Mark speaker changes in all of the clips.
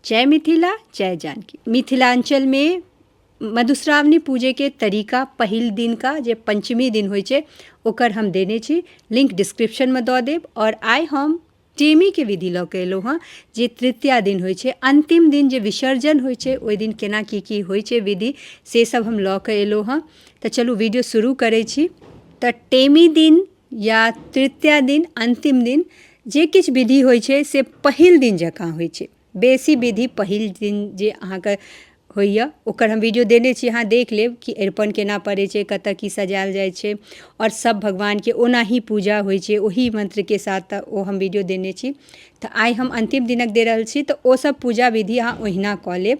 Speaker 1: जय मिथिला जय जानकी मिथिलांचल मे मधुश्रावणी पूजे के तरीका पहिल दिन का जे पंचमी दिन होइ छै ओकर हम देने छी लिंक डिस्क्रिप्शन मे दऽ देब और आइ हम टेमी के विधि लऽ के एलहुँ हँ जे तृतीया दिन होइ छै अंतिम दिन जे विसर्जन होइ छै ओहि दिन केना की की होइ छै विधि से सब हम लऽ के एलहुँ हँ तऽ चलू वीडियो शुरू करै छी तऽ टेमी दिन या तृतीया दिन अन्तिम दिन जे किछु विधि होइ छै से पहिल दिन जकाँ होइ छै बेसी विधि पहिल दिन जे अहाँके होइए ओकर हम वीडियो देने छी अहाँ देख लेब कि अरिपन केना पड़ै छै कतऽ की सजायल जाइ छै आओर सब भगवानके ओनाही पूजा होइ छै ओही मन्त्रके साथ ओ हम वीडियो देने छी तऽ आइ हम अन्तिम दिनक दे रहल छी तऽ ओ सब पूजा विधि अहाँ ओहिना कऽ लेब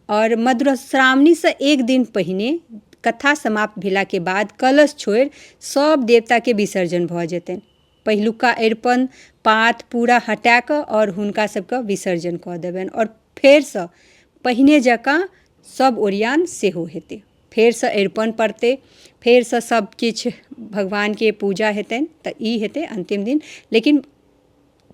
Speaker 1: आओर मधुश्रावणीसँ एक दिन पहिने कथा समाप्त भेलाके बाद कलश छोड़ि सब देवताके विसर्जन भऽ जेतनि पहिलुका अरिपन पात पूरा हटाकऽ आओर हुनका सबके विसर्जन कऽ देबनि आओर फेरसँ पहिने जकाँ सब ओरियान सेहो हेतै फेरसँ अरिपन पड़तै फेरसँ सब किछु भगवानके पूजा हेतनि तऽ ई हेतै अन्तिम दिन लेकिन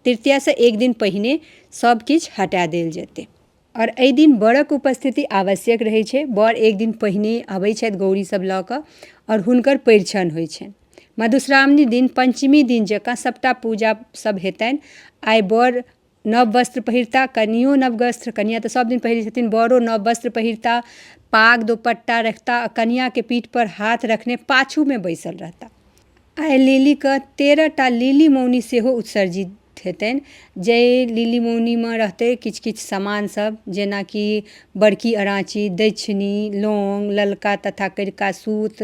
Speaker 1: तृतीयासँ एक दिन पहिने सब किछु हटा देल जेतै आओर एहि दिन वरक उपस्थिति आवश्यक रहै छै वर एक दिन पहिने अबै छथि गौरी सभ लऽ कऽ आओर हुनकर परिछन होइ छनि मधुश्रावणी दिन पञ्चमी दिन जकाँ सभटा पूजा सभ हेतनि आइ वर नव वस्त्र पहिरता कनियो नव वस्त्र कनिया तऽ सभ दिन पहिरै छथिन वरो नव वस्त्र पहिरता पाग दुपट्टा रखता कनियाके पीठ पर हाथ रखने पाछूमे बैसल रहता आइ लिलीके तेरहटा लिली मौनी सेहो उत्सर्जित हेतनि जाहि लिली मौनीमे रहतै किछु किछु समान सब जेनाकि बड़की अराची दैक्षिणी लौङ्ग ललका तथा करिका सूत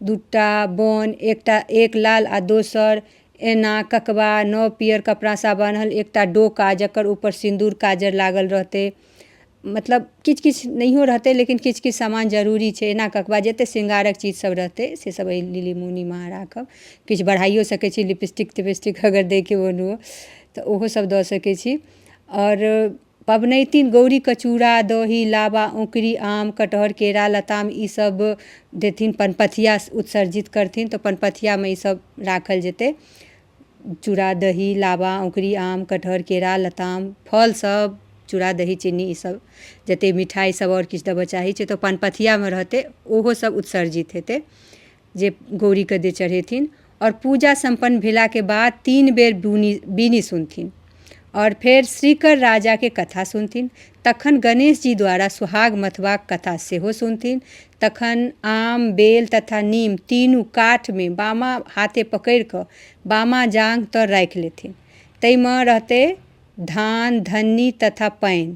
Speaker 1: दूटा बन एकटा एक लाल आओर दोसर एना ककबा नव पीयर कपड़ासँ बान्हल एकटा डोका जकर उपर सिन्दूर काजर लागल रहतै मतलब किछु किछु नहियो रहतै लेकिन किछु किछु सामान जरूरी छै एना कऽ कऽ जते शृंगारक चीज सब रहतै से सब अइ लिली मुनीमे अहाँ राखब किछु बढ़ाइयो सकै छी लिपस्टिक तिपस्टिक अगर दै के मोन हुअ तऽ ओहो सब दऽ सकै छी आओर पबनैतिन गौरीके चूड़ा दही लाबा औकरी आम कटहर केरा लताम ई सब देथिन पनपथिया उत्सर्जित करथिन तऽ पनपथियामे ई सब राखल जेतै चूड़ा दही लाबा अँकुरी आम कटहर केरा लताम फल सभ चूड़ा दही चीनी ई सभ जते मिठाइ सभ आओर किछु देबऽ चाहै छै तऽ पान पथियामे रहतै ओहो सभ उत्सर्जित हेतै जे गौड़ीके जे चढ़ेथिन आओर पूजा सम्पन्न भेलाके बाद तीन बेर बुनि बीनी सुनथिन आओर फेर श्रीकर राजाके कथा सुनथिन तखन गणेश जी द्वारा सुहाग मथबाक कथा सेहो सुनथिन तखन आम बेल तथा नीम तीनू काठमे बामा हाथे पकड़ि कऽ बामा जाँघ तर राखि लेथिन ताहिमे रहतै धान धन्नी तथा पानि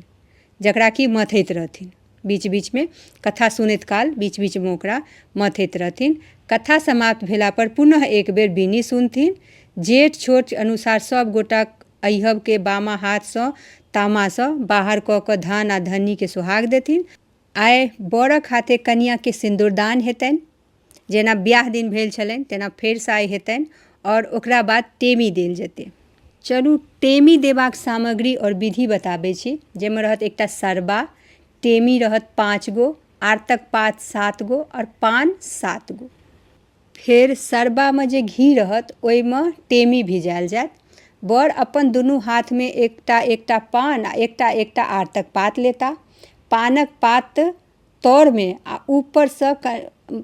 Speaker 1: जकरा कि मथैत रहथिन बीच बीचमे कथा सुनैत काल बीच बीचमे ओकरा मथैत रहथिन कथा समाप्त भेला पर पुनः एक बेर बीनी सुनथिन जेठ छोट अनुसार सब गोटा अहिबके बामा हाथसँ तामासँ बाहर कऽ कऽ धन आ धन्नीके सोहाग देथिन आइ बरक हाथे कनियाँके सिन्दुरदान हेतनि जेना बिआह दिन भेल छलनि तेना फेरसँ आइ हेतनि आओर ओकरा बाद टेमी देल जेतै चलू टेमी देबाके सामग्री आओर विधि बताबै छी जाहिमे रहत एकटा सरबा टेमी रहत पाँच गो आरतक पात सात गो आओर पान सात गो फेर सरबामे जे घी रहत ओहिमे टेमी भिजाएल जाएत बर अपन दुनू हाथमे एकटा एकटा पान आओर एकटा एकटा आरतक पात लेताह पानके पात तरमे आ ऊपरसँ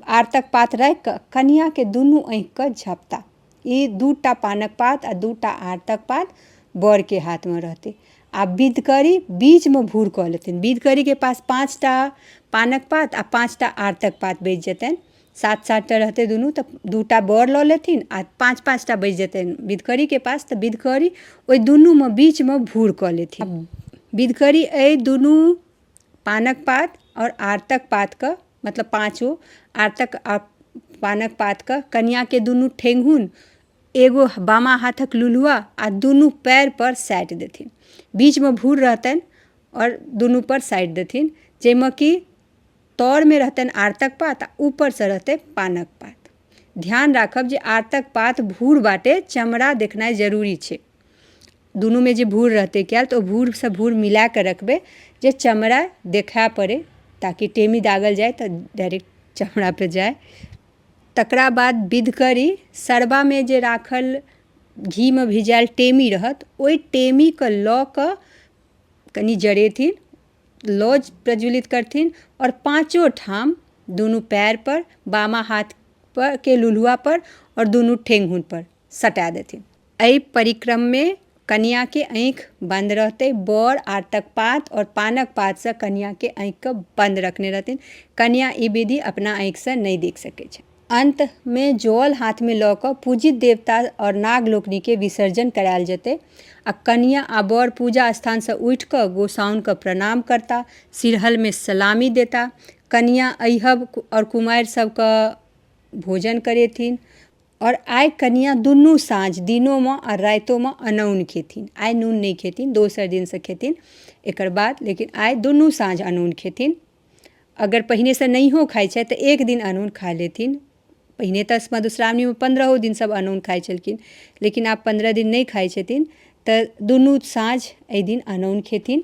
Speaker 1: आरतक पात राखि कऽ कनियाँके दुनू आँखिके झपता ई दू टा पानक पात आ दू टा आरतक पात बरके हाथमे रहतै आ बिधकरी बीचमे भूर कऽ लेथिन बिधकरीके पास पाँच टा पानक पात आ पाँच टा आरतक पात बचि जेतनि सात सात टा रहतै दुनू तऽ दू टा बर लऽ लेथिन आ पाँच पाँच टा बचि जेतनि बिधकरीके पास तऽ बिधकरी ओहि दुनूमे बीचमे भूर कऽ लेथिन बिधकरी एहि दुनू पानक पात आओर आरतक पातके मतलब पाँचो आरतक आओर पानक पातके कनियाँके दुनू ठेहुन एगो बामा हाथक लुलुआ आओर दुनू पयरपर साटि देथिन बीचमे भूर रहतनि आओर दुनूपर साटि देथिन जैमे कि तरमे रहतनि आरतक पात आओर उपरसँ रहतइ पानक पात ध्यान राखब जे आरतक पात भूर बाटे चमड़ा देखनाइ जरूरी छै दुनूमे जे भूर रहतै कयल तऽ ओ भूर सँ भूर मिलाकऽ रखबै जे चमड़ा देखाय पड़ै ताकि टेमी दागल जाइ तऽ डायरेक्ट चमड़ा पर जाइ तकरा बाद विध करी सरबामे जे राखल घीमे भिजायल टेमी रहत ओहि टेमीके लऽ कऽ कनि जरेथिन लऽ प्रज्वलित करथिन आओर पाँचो ठाम दुनू पयर पर बामा हाथ पर के लुलुआ पर आओर दुनू ठेहुन पर सटा देथिन। एहि परिक्रममे कनियाँके अँइख बन्द रहतै। बर आँटक पात आओर पानक पातसँ कनियाँके अँइखके बन्द रखने रहथिन। कनियाँ ई विधि अपना अँइखसँ नहि देख सकै छथि। अन्तमे जल हाथमे लऽ कऽ पूजित देवता आओर नाग लोकनिके विसर्जन कराएल जेतै आ कनियाँ आ बर पूजा स्थानसँ उठि कऽ गोसाउनके प्रणाम करता, सिरहलमे सलामी देता। कनियाँ अइहब आओर कुमारि सभके भोजन करेथिन। आओर आइ कनियाँ दुनू साँझ दिनोमे आओर राइतोमे अनोन खेथिन आइ नून नहि खेथिन दोसर दिनसँ खेथिन एकर बाद लेकिन आइ दुनू साँझ अनोन खेथिन अगर पहिनेसँ नहियो खाइ छथि तऽ एक दिन अनोन खा लेथिन पहिने तऽ मधुश्रावणीमे पन्द्रहो दिन सब अनोन खाइ छलखिन लेकिन आब पन्द्रह दिन नहि खाइ छथिन तऽ दुनू साँझ अइ दिन अनोन खेथिन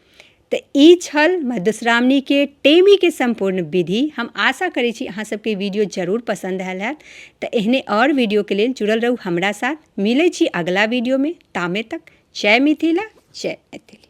Speaker 1: तऽ ई छल मधुश्रावणीके टेमीके सम्पूर्ण विधि हम आशा करै छी अहाँ सबके वीडियो जरूर पसन्द आयल हैत तऽ एहने आओर वीडियोके लेल जुड़ल रहू हमरा साथ मिलै छी अगिला वीडियोमे तामे तक जय मिथिला जय मैथिली